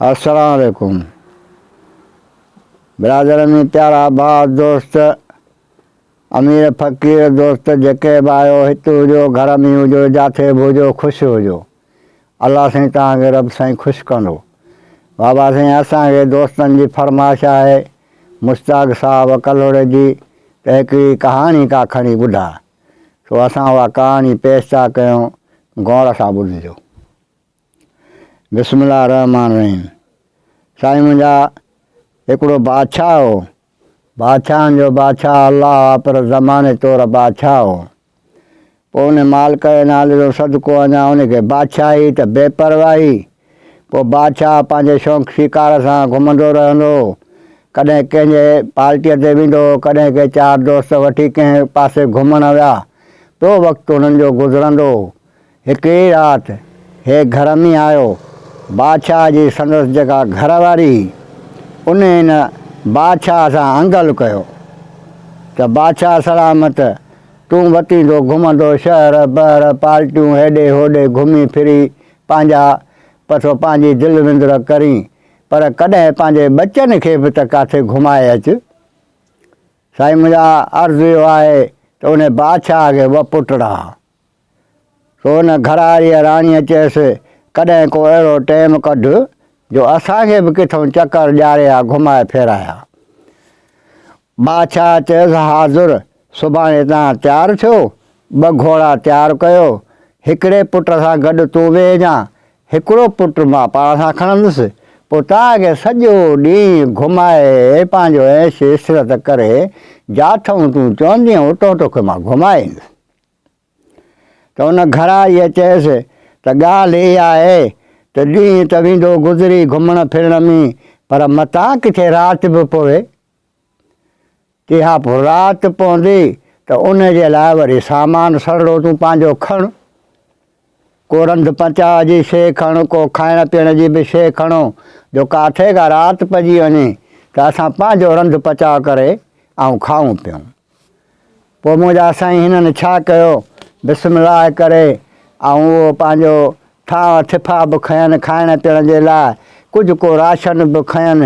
السلام عليڪم برادر ۾ پيارا ڀاء دوست امير فقير دوست جيڪي به آيو هت هجو گهر ۾ هجو جاٿي به هجو خوش هجو الله سائين تان کي رب سائين خوش ڪندو بابا سائين اسان کي دوستن جي فرمائش آهي مشتاق صاحب ڪلهوڙي جي ته هڪڙي ڪهاڻي ڪا کڻي ٻڌاء سو اسان اها ڪهاڻي پيش ٿا ڪيون غور سان ٻڌجو. بسم الله الرحمٰن الرحيم سائين منهنجا هڪڙو بادشاهه هو بادشاهن جو بادشاهه الله آ پر زماني طور بادشاهه هو پوء ان مالڪ جي نالي جو صدقو اڃا ان کي بادشاهي ته بي پرواهي پوء بادشاهه پنهنجي شونق شڪار سان گهمندو رهندو هو. ڪڏهن ڪنهن جي پارٽيء تي ويندو هو، ڪڏهن ڪي چار دوست وٺي ڪنهن پاسي گهمڻ ويا. پيو وقت هنن جو گذرندو هو. هڪڙي رات هي گهر ۾ آيو. بادشاهه جي سندس جيڪا گهر واري هئي، ان هن بادشاهه سان انگل ڪيو ته بادشاهه سلامت تون وتيندو گهمندو شهر بهر پارٽيون هيڏي هوڏي گهمي ڦري پنهنجا پسو پنهنجي دل وندر ڪرين، پر ڪڏهن پنهنجي ٻچن کي به ته ڪاٿي گهمائي اچ. سائين منهنجا عرض اهو آهي ته انهي بادشاهه کي ٻه پٽ رها. سو ان گهراڙيء راڻيء چيس، ڪڏهن ڪو اهڙو ٽيم ڪڍ جو اسان کي به ڪٿئون چڪر ڏياري ها گهمائي ڦيرائي ها. بادشاهه چيس، حاضر! سڀاڻي تان تيار ٿيو، ٻه گهوڙا تيار ڪيو، هڪڙي پٽ سان گڏ تون ويهجان، هڪڙو پٽ مان پاڻ سان کڻندس، پوء تان کي سڄو ڏينهن گهمائي پنهنجو عيش عشرت ڪري، جاٿئون تون چوندين اتئون توکي مان گهمائي ايندس. ته ان گهراريء چيس ته ڳالهه اها آهي ته ڏينهن ته ويندو گذري گهمڻ ڦرڻ ۾ پر متان ڪٿي رات به پوي ڪيها پوء رات پوندي ته ان جي لاء وري سامان سڙڙو تون پنهنجو کڻ. ڪو رنڌ پچاء جي شيء کڻ، ڪو کائڻ پيئڻ جي به شيء کڻو، جو ڪاٿي ڪا رات پئجي وڃي ته اسان پنهنجو رنڌ پچاء ڪري ۽ کائون پيئون. پوء منهنجا سائين هنن ڇا ڪيو؟ بسم الله ڪري آئون اهو پنهنجو ٿانء ٿڦا به کنين، کائڻ پيئڻ جي لاء ڪجهه ڪو راشن به کنين،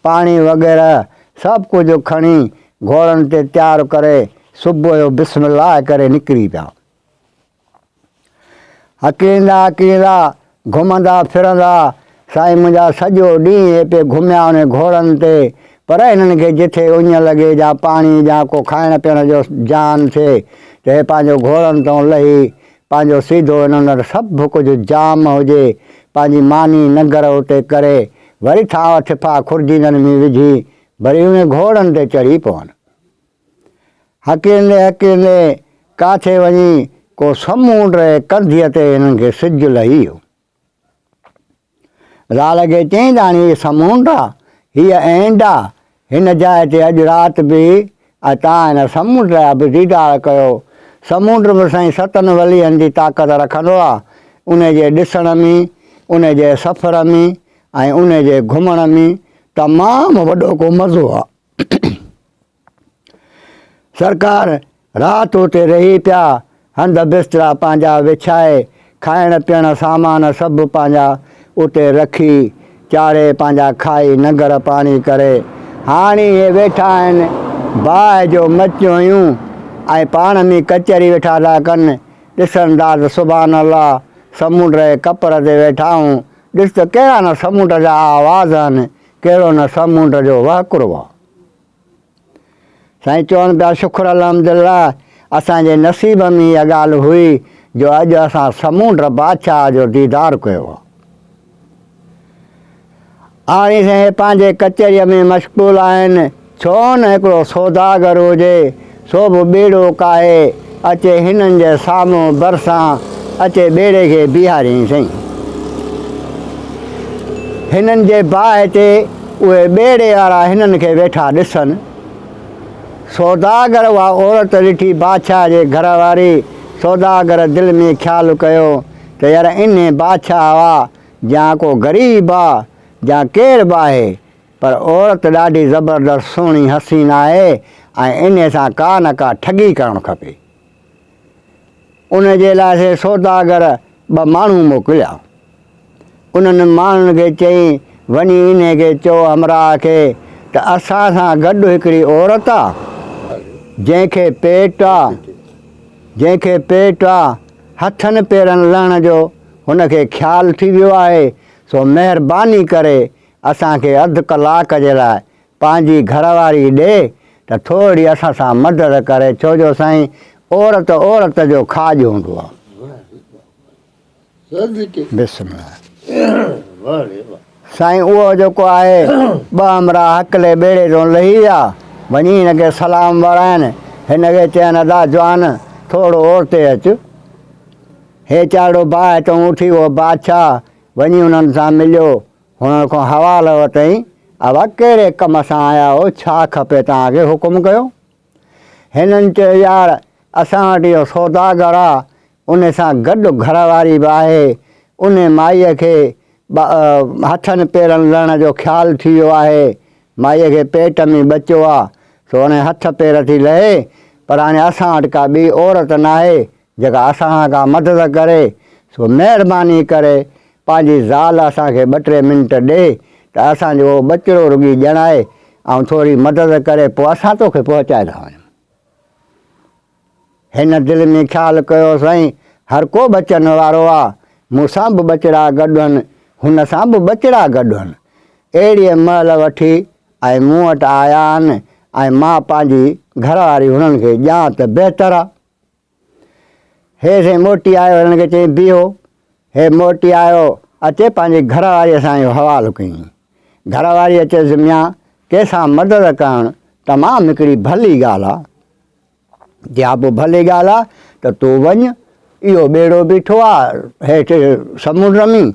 پاڻي وغيره سڀ ڪجهه کڻي گهوڙن تي تيار ڪري صبح جو بسم الله ڪري نڪري پيا. اڪيلا اڪيلا گهمندا ڦرندا سائين منهنجا سڄو ڏينهن هتي گهميا ان گهوڙن تي پر انهن کي جتي اڃ لڳي جا پاڻي جا ڪو کائڻ پيڻ جو جان ٿئي ته هي پنهنجو گهوڙن تون لهي پنهنجو سيڌو انهن وٽ سڀ ڪجهه جام هجي پنهنجي ماني ننگر اتي ڪري وري ٿانء ٿڦا خرجينن ۾ وجهي وري انهن گهوڙن تي چڙهي پون. هڪيندي هڪيندي ڪاٿي وڃي ڪو سمونڊ رهي ڪنڌيء تي هنن کي سج لهي ويو. زال کي چيائين ته هاڻي هي سمونڊ آ، هيء اينڊ آ، هن جاء تي اڄ رات بيهه ۽ تان هن سمونڊ جا به ديدار ڪيو. سمونڊ به سائين ستن وليهن جي طاقت رکندو آ، انهي جي ڏسڻ ۾، انهي جي سفر ۾ ۽ انهي جي گهمڻ ۾ تمام وڏو ڪو مزو آ. سرڪار رات اتي رهي پيا هنڌ بسترا پنهنجا وڇائي کائڻ پيئڻ سامان سڀ پنهنجا اتي رکي چاڙهي پنهنجا کائي ننگر پاڻي ڪري هاڻي اهي ويٺا آهن باهه جو مچيون هيون ۽ پاڻ ۾ ڪچهري ويٺا ٿا ڪن ڏسن ٿا ته سبحان الله سمنڊ جي ڪپر تي ويٺا آهون ڏس ته ڪهڙا نه سمنڊ جا آواز آهن ڪهڙو نه سامونڊ جو وهڪرو آ. سائين چون پيا شڪر الحمدالله اسان جي نصيب ۾ اها ڳالهه هئي جو اڄ اسان سمونڊ بادشاهه جو ديدار ڪيو آ. هاڻي سائين پنهنجي ڪچهريء ۾ مشغول آهن. ڇو نه هڪڙو سوداگر هجي، سو به ٻيڙو ڪاهي اچي هنن جي سامهون ڀرسان اچي ٻيڙي کي بيهارين سئي. هنن جي باهه تي اهي ٻيڙي وارا هنن کي ويٺا ڏسن. سوداگر اها عورت ڏٺي بادشاهه جي گهر واري سوداگر دل ۾ خيال ڪيو ته يار انهي بادشاهه آ جيان ڪو غريب آ جيان ڪير به آهي پر عورت ڏاڍي زبردست سهڻي حسين آهي ۽ انهي سان ڪا نه ڪا ٺڳي ڪرڻ کپي. ان جي لاء سي سوداگر ٻه ماڻهو موڪليا. انهن ماڻهن کي چيائين، وڃي انهي کي چئو همراهه کي ته اسان سان گڏ هڪڙي عورت آ، جنهن کي پيٽ آ، جنهن کي پيٽ آ، هٿن پيرن لهڻ جو هن کي خيال ٿي ويو آهي، سو مهرباني ڪري اسان کي اڌ ڪلاڪ جي لاء پنهنجي گهر واري ڏي ته ٿورڙي اسان سان مدد ڪري ڇو جو سائين عورت عورت جو کاڄ هوندو آ. بسم الله سائين اهو جيڪو آهي ٻه همراهه هڪلي ٻيڙي تون لهي ويا وڃي هن کي سلام وراين هن کي چين ادا جوان ٿورڙو اورتي اچ هيچارڙو باهه تون اٺي اهو بادشاهه وڃي انهن سان مليو هن کان حوالو وٺئين، ابا ڪهڙي ڪم سان آيا آهيو، ڇا کپي توهان کي، حڪم ڪيو. هنن چيو، يار اسان وٽ اهو سوداگر آ، ان سان گڏ گهر واري به آهي، ان مائيء کي هٿن پيرن لهڻ جو خيال ٿي ويو آهي، مائيء کي پيٽ ۾ ٻچو آ، سو هاڻي هٿ پير ٿي لهي، پر هاڻي اسان وٽ ڪا ٻي عورت ناهي، جيڪا اسان ڪا مدد ڪري سو مهرباني ڪري پنهنجي زال اسان کي ٻه ٽي منٽ ڏي ته اسان جو اهو ٻچڙو رڳي ڄڻائي ۽ ٿوري مدد ڪري پوء اسان توکي پهچائيندا وڃون. هن دل ۾ خيال ڪيو سائين هر ڪو ٻچن وارو آ مون سان به ٻچڙا گڏ هن هن سان به ٻچڙا گڏ هن اهڙيء مهل وٺي ۽ مون وٽ آيا آهن ۽ مان پنهنجي گهرواري هنن کي ڄان ته بهتر آ. هي سائين موٽي آيو هن کي چيائين بيهو هي موٽي آيو اچي پنهنجي گهر واريء سان اهو حوالو ڪيائين گهر واريء چيس ميان ڪنهن سان مدد ڪرڻ تمام هڪڙي ڀلي ڳالهه آهي جي ها پوء ڀلي ڳالهه آهي ته تون وڃ اهو ٻيڙو بيٺو آهي هيٺ سمنڊ رمي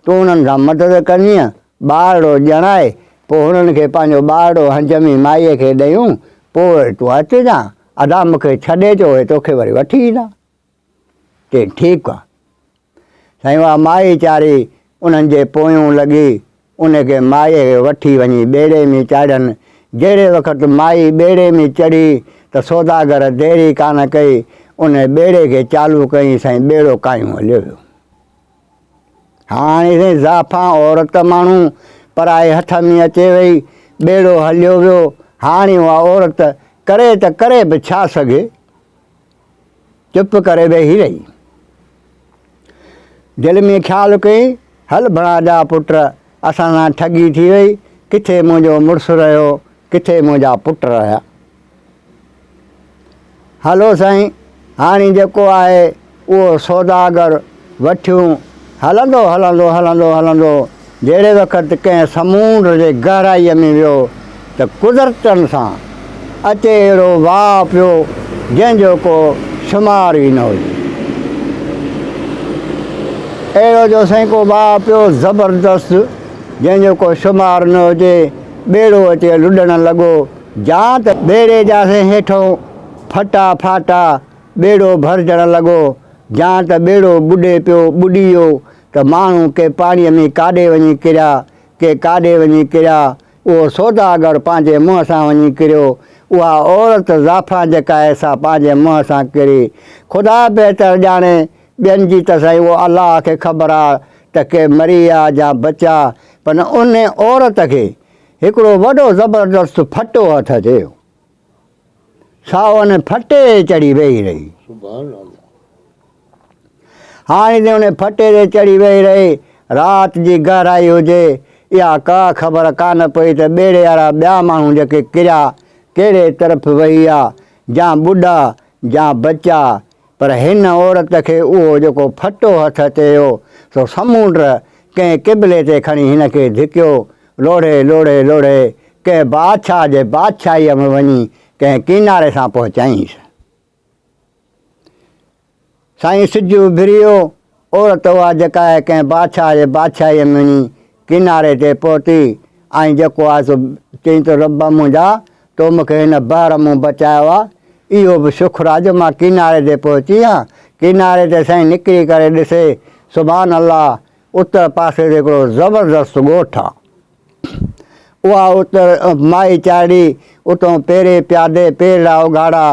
تون انهن سان مدد ڪندينء ٻارڙو ڄڻائي پوء هنن کي پنهنجو ٻارڙو هنجمي مائيء کي ڏيون پوء وري تون اچجان ادا مون کي ڇڏي چو اهي توکي وري وٺي ايندا. چيائين ٺيڪ آ. سائين اها مائي چاري انهن جي پويون لڳي ان کي مائيء کي وٺي وڃي ٻيڙي ۾ چاڙهين. جهڙي وقت مائي ٻيڙي ۾ چڙهي ته سوداگر ديري ڪانه ڪئي ان ٻيڙي کي چالو ڪيائين سائين ٻيڙو ڪايون هليو ويو. هاڻي سائين زعفان عورت ماڻهو پرائي هٿ ۾ اچي وئي، ٻيڙو هليو ويو، هاڻي اها عورت ڪري ته ڪري به ڇا سگهي؟ چپ ڪري ويهي رهي. دل ۾ خيال ڪيائين، هل ڀڻا جا پٽ، اسان سان ٺڳي ٿي وئي، ڪٿي منهنجو مڙس رهيو، ڪٿي منهنجا پٽ رهيا. هلو سائين هاڻي جيڪو آهي اهو سوداگر وٺيون. هلندو هلندو هلندو هلندو جهڙي وقت ڪنهن سمونڊ جي گهرائيء ۾ ويو ته قدرتن سان اچي اهڙو واء پيو جنهن جو ڪو شمار ئي نه هجي. اهڙو جو سائين ڪو واء پيو زبردست جنهن جو ڪو شمار نه هجي. ٻيڙو اچي لڏڻ لڳو. جان ته ٻيڙي جا سين هيٺئون ڦٽا ڦاٽا، ٻيڙو ڀرجڻ لڳو، جان ته ٻيڙو ٻڏي پيو، ٻڏي ويو ته ماڻهو ڪي پاڻيء ۾ ڪاڏي وڃي ڪريا، ڪي ڪاڏي وڃي ڪريا، اهو سوداگر پنهنجي منهن سان وڃي ڪريو، اها عورت زعفران جيڪا آهي سا پنهنجي منهن سان ڪري، خدا بهتر ڄاڻي، ٻين جي ته سائين اهو الله کي خبر آ ته ڪي مري ويا جا بچيا، پر ان عورت کي هڪڙو وڏو زبردست ڦٽو هٿ تي هو. سا ان ڦٽي تي چڙهي ويهي رهي. هاڻي ته ان ڦٽي تي چڙهي ويهي رهي، رات جي گهرائي هجي يا ڪا خبر ڪانه پئي ته ٻيڙي وارا ٻيا ماڻهو جيڪي ڪريا، ڪهڙي طرف وهي ويا، جا ٻڏا، جا بچا، پر هن عورت کي اهو جيڪو ڦٽو هٿ اچي هيو، سو سمونڊ ڪنهن قبلي تي کڻي هن کي ڌڪيو. لوڙهي لوڙهي لوڙهي ڪنهن بادشاهه جي بادشاهيء ۾ وڃي ڪنهن ڪيناري سان پهچيائينس. سائين سج اڀري ويو. عورت اها جيڪا ڪنهن بادشاهه جي بادشاهيء ۾ وڃي ڪناري تي پهتي ۽ جيڪو آهي سو چيائين ته رب منهنجا تو مون کي هن بحر مون بچايو آهي، اهو به شڪر آهي جو مان ڪناري تي پهتي آهيان. ڪناري تي سائين نڪري ڪري ڏسي سبحان الله اتر پاسي تي هڪڙو زبردست ڳوٺ آهي. اها اتر مائي چارڙي، اتون پيري پيادي پيرڙا اگهاڙا،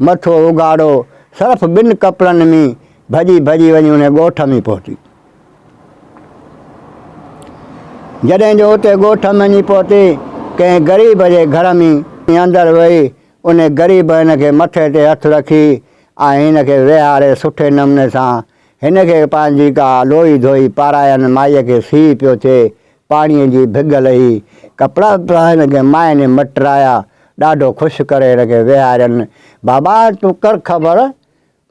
مٿو اگهاڙو، صرف ٻن ڪپڙن مين ڀڄي ڀڄي وڃي انهي ڳوٺ مين پهتي. جڏهن جو اتي ڳوٺ مين وڃي پهتي، ڪنهن غريب جي گهر مين ۽ اندر ويئي، انهي غريب هن کي مٿي تي هٿ رکي ۽ هن کي ويهاري سٺي نموني سان هن کي پنهنجي ڪا لوئي ڌوئي پاراين مائي کي سيء پيو ٿئي پاڻيء جي ڀڳ لهي، ڪپڙا وپڙا هن کي مائني مٽرايا، ڏاڍو خوش ڪري هن کي ويهارين. بابا تون ڪر خبر،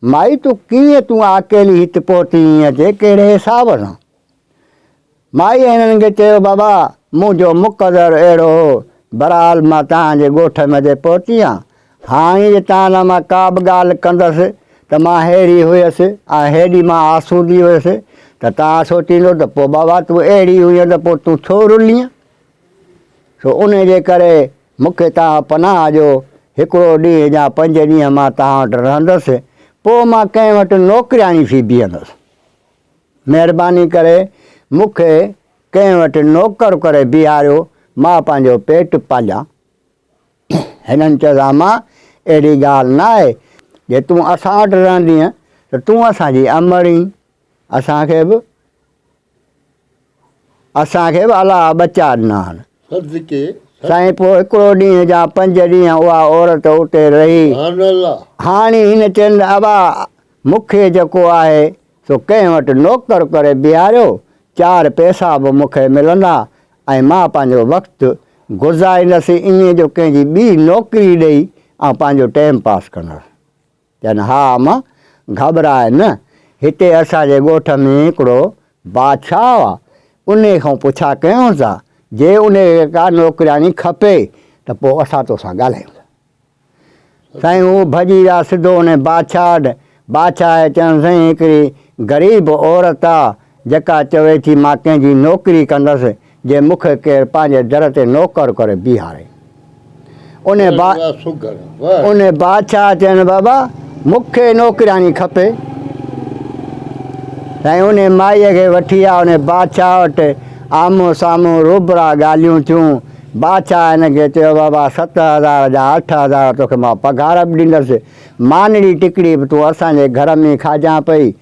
مائي تون ڪيئن تون آڪيلي هت پهتي هئين اچي ڪهڙي حساب سان؟ مائيء هنن کي چيو، بابا منهنجو مقدر اهڙو هو، برحال مان توهان جي ڳوٺ ۾ اچي پهتي هان، هاڻي جي توهان سان مان ڪا به ڳالهه ڪندس ته مان ههڙي هيس ۽ هيڏي مان آسودي هيس ته توهان سوچيندو ته پوء بابا تون اهڙي هئين ته پوء تون ڇو رلين؟ سو ان جي ڪري مون کي توهان پناهه ڏيو، هڪڙو ڏينهن يا پنج ڏينهن مان توهان وٽ رهندس، پوء مان ڪنهن وٽ نوڪرياڻي ٿي بيهندس. مهرباني ڪري مون کي ڪنهن وٽ نوڪر ڪري بيهاريو، مان پنهنجو پيٽ پاليان. هنن چيو ته اما اهڙي ڳالهه نه آهي، جي تون اسان وٽ رهندينء ته تون اسان جي امڙ اينء، اسان کي به اسان کي به الله ٻچا ڏنا آهن. سائين پوء هڪڙو ڏينهن يا پنج ڏينهن اها عورت اتي رهي. هاڻي هن چين ته ابا مون کي جيڪو آهي سو ڪنهن وٽ نوڪر ڪري بيهاريو، چار پئسا به مون کي ملندا ۽ مان پنهنجو وقت گذاريندس ائين جو ڪنهن جي ٻي نوڪري ڏئي آئون پنهنجو ٽيم پاس ڪندس. چيائين، ها اما، گهٻراء نه، هتي اسان جي ڳوٺ ۾ هڪڙو بادشاهه آ، انهي کان پڇا ڪيون ٿا، جي انهي کي ڪا نوڪرياڻي کپي ته پوء اسان توسان ڳالهايون ٿا. سائين هو ڀڄي ويا سڌو انهي بادشاهه وٽ، بادشاهه چيائون سائين هڪڙي غريب عورت آ جيڪا چوي ٿي مان ڪنهن جي نوڪري ڪندس جي مون کي ڪير پنهنجي در تي نوڪر ڪري بيهاري انهي با انهي بادشاهه چيائون بابا مون کي نوڪرياڻي کپي سائين انهي مائي کي وٺي آ انهي بادشاهه وٽ آمهون سامهون روبرا ڳالهيون ٿيون بادشاهه هن کي چيو، بابا ست هزار جا اٺ هزار توکي مان پگهار به ڏيندس، مانڙي ٽڪڙي به تون اسان جي گهر ۾ ئي کاجان پئي،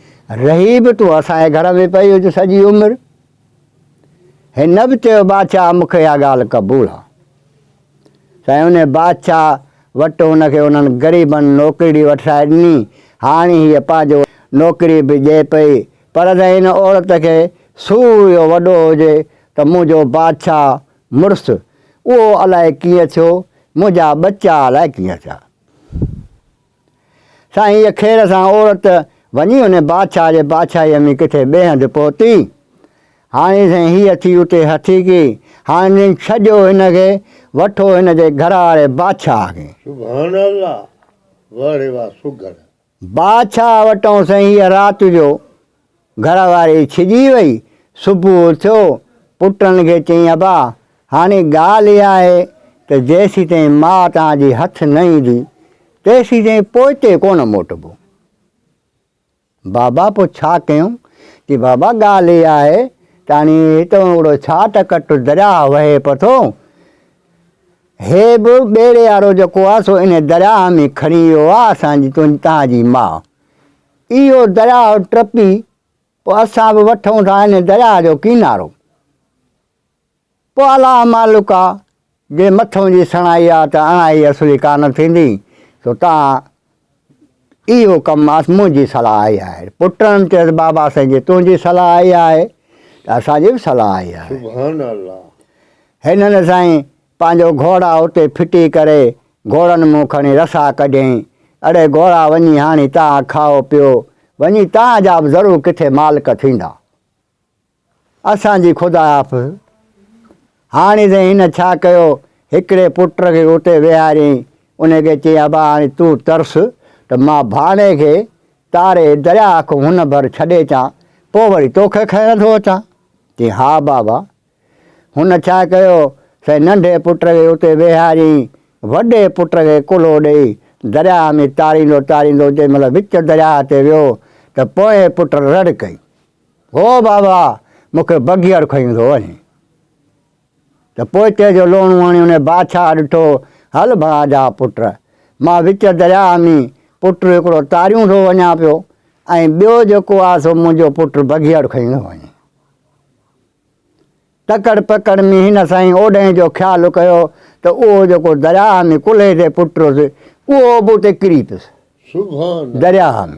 رهي به تون اسان جي گهر ۾ پئي هج سڄي عمر. هن به چيو، بادشاهه مون کي اها ڳالهه قبول آ. سائين انهي بادشاهه وٽ هن کي انهن غريبن نوڪرڙي وٺرائي ڏني، هاڻي هيء پنهنجو نوڪري به ڏئي پئي، پر جنهن ان عورت کي سورهيو وڏو هجي ته منهنجو بادشاهه مڙس اهو الائي ڪيئن ٿيو، منهنجا ٻچا الائي ڪيئن ٿيا. سائين هيء خير سان عورت وڃي ان بادشاهه جي بادشاهيء ۾ ڪٿي ٻئي هنڌ پهتي. هاڻي سائين هيء ٿي اتي هٿيڪي. هاڻي ڇڏيو هن کي، وٺو هن جي گهر واري بادشاهه کي. سبحان الله! واهڙي واهه سگهڙ. بادشاهه وٽئون سهيء رات جو گهر واري ڇڄي وئي. صبح اٿيو، پٽن کي چيائين ابا، هاڻي ڳالهه اها آهي ته جيسيتائين ماء توهان جي هٿ نه ايندي، تيسيتائين پوئتي ڪونه موٽبو. بابا پوء ڇا ڪيون؟ چي بابا ڳالهه اها آهي ته هاڻي هتئون هڪڙو ڇاٽ ڪٽ درياهه وهي پٿو، هي به ٻيڙي وارو جيڪو آ سو انهي درياهه ۾ کڻي ويو آ اسان جي تنهنجي توهان جي ماء اهو درياهه ٽپي پو اسان به وٺون ٿا انهي درياهه جو ڪينارو پو الله مالڪ آ جي مٿون جي سڻائي آ ته اڻائي اصلي ڪانه ٿيندي سو تان اهو ڪم ماس منهنجي صلاح آئي آهي. پٽن چيس بابا سائين جي تنهنجي صلاح آئي آهي ته اسان جي به صلاح آئي آهي. سبحان الله. هنن سائين پنهنجو گهوڙا اتي ڦٽي ڪري گهوڙن مون کڻي رسا ڪڍيائين. اڙي گهوڙا وڃي هاڻي تان کائو پيو. وڃي تان جا به ضرور ڪٿي مالڪ ٿيندا. اسان جي خدا حافظ. هاڻي سائين هن ڇا ڪيو، هڪڙي پٽ کي اتي ويهاريائين، ان کي چيائين ابا هاڻي تون ترس ته مان ڀاڻي کي تاري درياء کان هن ڀر ڇڏي اچان، پوء وري توکي کڻڻ ٿو اچان. چيائين ها بابا. هن ڇا ڪيو، سائين ننڍي پٽ کي اتي ويهاريائين، وڏي پٽ کي ڪلهو ڏيئي درياء ۾ تاريندو تاريندو جنهن مهل وچ درياء تي ويو ته پوئين پٽ رڙ ڪئي. هو بابا! مون کي بگهيڙ کنيون ٿو وڃي. ته پوئتي جو لوڻو هڻي انهي بادشاهه ڏٺو، هل ڀاء جا پٽ، مان وچ درياهه ۾ پٽ هڪڙو تاريون ٿو وڃان پيو ۽ ٻيو جيڪو آهي سو منهنجو پٽ بگهيڙ کنيون ٿو وڃي. تڪڙ پڪڙ ۾ هن سائين اوڏهين جو خيال ڪيو ته اهو جيڪو درياهه ۾ ڪلهي تي پٽ هوس، اهو به اتي ڪري پيس درياهه ۾.